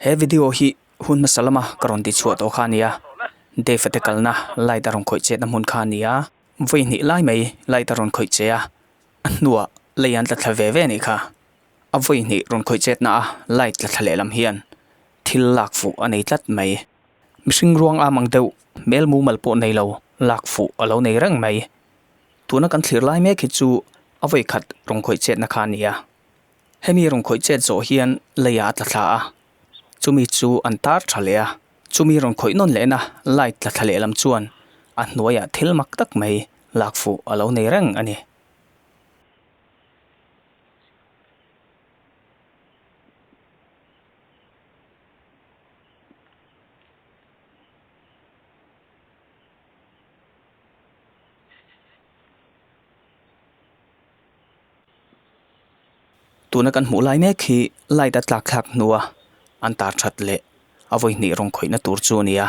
He video hi hun hmasa lama ka rawn ti chhuah tawh kha a nia, Dave a te kalna light a rawn khawih chetna hmun kha a nia, vawi hnih lai mai light a rawn khawih che a, a hnuah lei an tla thla ve ve anih kha, a vawi hnih rawn khawih chetna a light tla thla lehlam hian thil lak fuh a nei tlat mai, mihring ruang am ang deuh hmel mumal pawh nei lo lak fuh a lo nei reng mai, tuna kan thlir lai mek hi chu a vawi khat rawn khawih chetna kha a nia, Hemi rawn khawih chet zawh hian leiah a tla thla a, chumi chu an tar tha leh a. Chumi rawn khawih nawn lehna light tla thla leh lam chuan a hnuaiah thil mak tak mai lak fuh a lo nei reng a ni. Tuna kan hmuh lai mek hi light a tlak thlak hnua an tar that leh a vawi hnih rawng khawihna tur chu a ni a.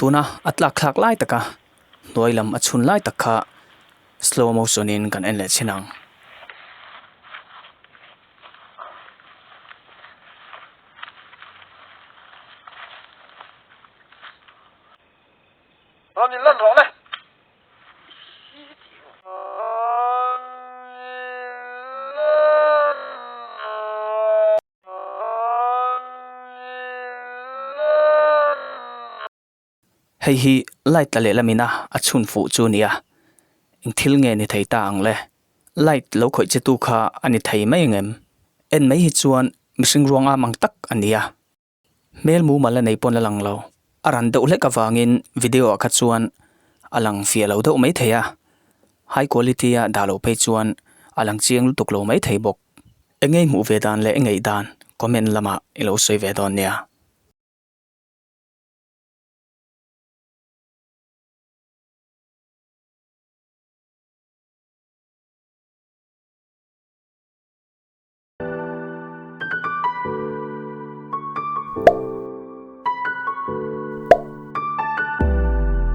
Tuna a tlak thlak lai taka hnuai lam a chhun lai tak kha slow motion in kan en leh chin ang. Hei hi light tla leh lamin a a chhun fuh chu nia, eng thil nge ni thei ta ang le? Light lo khawih chetu kha a ni thei mai ang em? En mai hi chuan mihring ruang am ang tak a nia, hmel mumal la nei pawn la lang lo, a ran deuh hlek avangin video ah kha chuan a lang fia lo deuh mai thei a, high quality a dah lo phei chuan a lang chiang lutuk lo mai thei bawk. Eng nge hmuh ve dan leh eng ngeih dan comment lamah i lo sawi ve dawn nia.